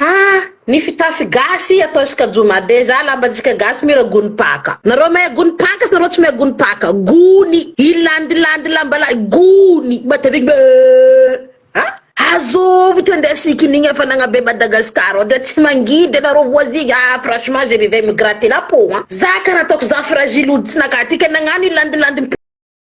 Haa! Ny fitafy gasy atao skajoma dejà lambantsika gasy mira gony paka. Nareo mea gony paka sy nareo tsy mea gony paka. Gony. I landy landy lamba lahy. Gony. Mateviky be ee. Haa! Azovy ty andeha sikinigny hafanagna be Madagascar ohatra tsy mangidy anareo voisins aa franchement je vivais me gratter la peau an. Za karaha ataoko za fragile hoditry nakaty ka nagnano i landy landy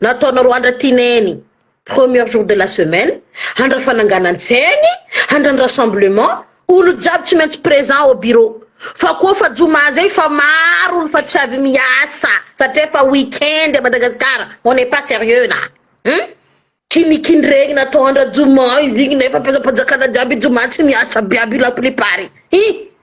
Nataonareo andratineny premier jour de la semaine handra fananganan-tsainy handran rassemblement olo jiaby tsy maintsy présent ao bureau fa koa fa joma zay fa maro olo fa tsy avy miasa satria fa week-end a Madagascar on n'est pas sérieux là hum kinikindregny natao andra joma izy igny nefa mpanjakana jiaby joma tsy miasa aby aby la plupart hum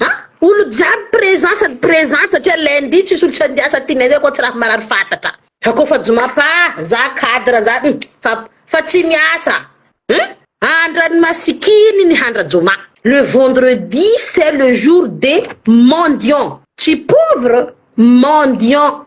Ha? Olo jiaby présent sady présente satria lundi tsisy olo tsy andiasa aty nefa koa tsy raha marary fatatra. Fa koa fa joma pa za cadre za hum fa fa tsy miasa hum andrany masikiny ny handra joma. Le vendredi c'est le jour des mendiants tsy pauvre mendiants.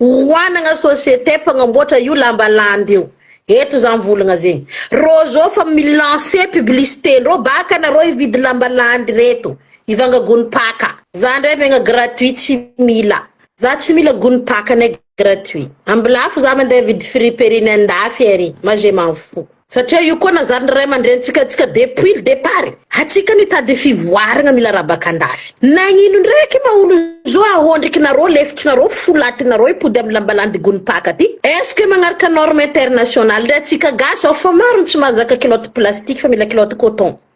Oanagna société mpagnamboatra io lamba landy io eto za mivolagna zegny rô zô fa mi lancer publicité ndrô baka anarô hividy lamba landy reto hivanga gony paka. Za ndray megna gratuit tsy mila. Za tsy mila gony paka nay gratuit. Ambilafo za mandeha vidy friperie ny andafy ary ma je m'en fous. Satria io koa nanzarin'ny ray aman-drenintsika antsika depuis le départ e! Antsika no hitady fivoarana mila rabaka andafy. Nagnino ndraiky ma olo zao ahondrikinareo, lefikinareo, folatinareo hipody amin'ny lambalandigoan'ny mpaka ty? Est ce que magnaraka norme internationale ndray antsika gasy ao fa maro ny tsy mahazaka kilaoty plastique fa mila kilaoty coton.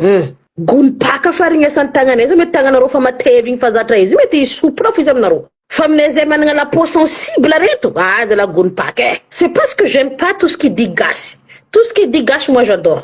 Humm. Gony baka fa rignesan'ny tagnanay zao mety tagnanareo fa matevy igny fa zatra izy io mety hisy soupra fo izy aminareo fa aminay zay managna la peau sensible reto ah zalah gony baka eh c'est pas ce que j'aime pas tout ce qui dit gasy tout ce qui dit gasy moi j'adore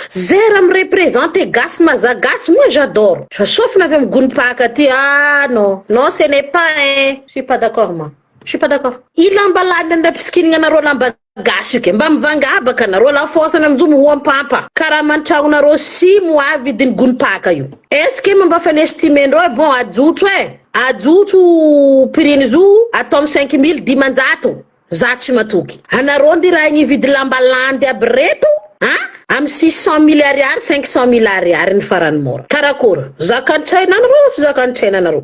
zay raha mi-represente gasy na za gasy moi j'adore fa sofina avy amy gony baka ty ah non non ce n'est pas eh je suis pas d'accord moi je suis pas d'accord i lamba lalina nandapisikinigna anareo lamba Gasy io ke. Mba mivangabaka nareo la force na njo moa mpampa karama antragno nareo si moa avy vidiny gony paka io. Est-ce que mba fa nestimer-ndreo eh bon ajotso eh ajotso prix-ny zo atao am cinq mille dimanjato za tsy matoky anareo ndy raha igny hividy lamba landy aby reto a am six cent mille ariary cinq cent mille ariary ny farany mora karakôry zakan-tsaina anareo sa tsy zakan-tsaina anareo.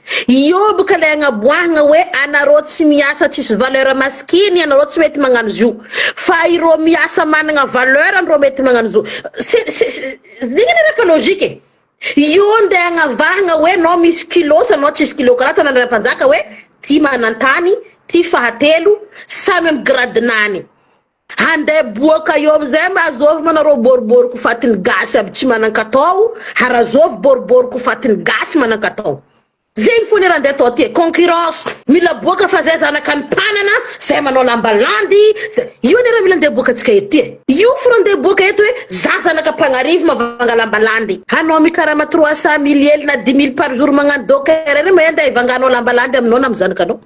Ioby ka ilay agnaboahagna hoe anareo tsy miasa tsisy valeur maskiny ianareo tsy mety magnano zio fa ireo miasa managna valeur ndro mety magnano zo se se zegny anie raha efa logique e io nde agnavahagna hoe anao misy kilo sa anao tsisy kilo karaha ataon'ny andrianampanjaka hoe ty manantany ty fahatelo samy amy gradinany Hande boaka eo amizay mba azovy mana rô boribory ko fatiny gasy aby tsy manankatao harazovy boribory ko fatiny gasy manankatao zegny fô ny raha nde atao aty concurrence mila boaka fa zay zanaka ny mpanana zay manao lamba landy zay io anie raha mila nde boaka tsika ety e io fo raha nde boaka eto hoe za zanaka mpagnarivo mavanga lamba landy hanao mikarama trois cent mille ely na dix mille par jour magnano docker anie mba ende hivanga hanao lamba landy aminao na amy zanaka anao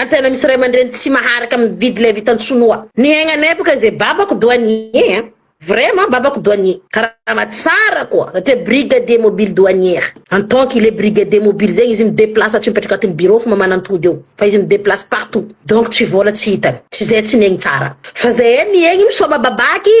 Antena misy ray aman-dreny tsy maharaka mividy ilay vitan'i sonoa. Ny aignanay boka ze babako douanier an! Vraiment babako douanier! Karama tsara koa satria brigadier mobile douanier. En tant qu'il est brigadier mobile zegny izy mi deplace fa tsy mipetraka atin'ny bureau fa mamanantody eo fa izy mi deplace partout donc tsy vola tsy hitany. Tsy zay tsy niaigny tsara fa zay niaigny misaoma babaky!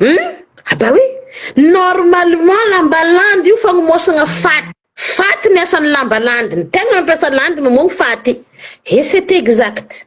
Hum? Ah bah oui! Normalement lamba landy io fagnomaosagna faty. Faty ny asan'ny lamba landy, ny tegna mampiasa landy mamoagno faty. Et c'est exact.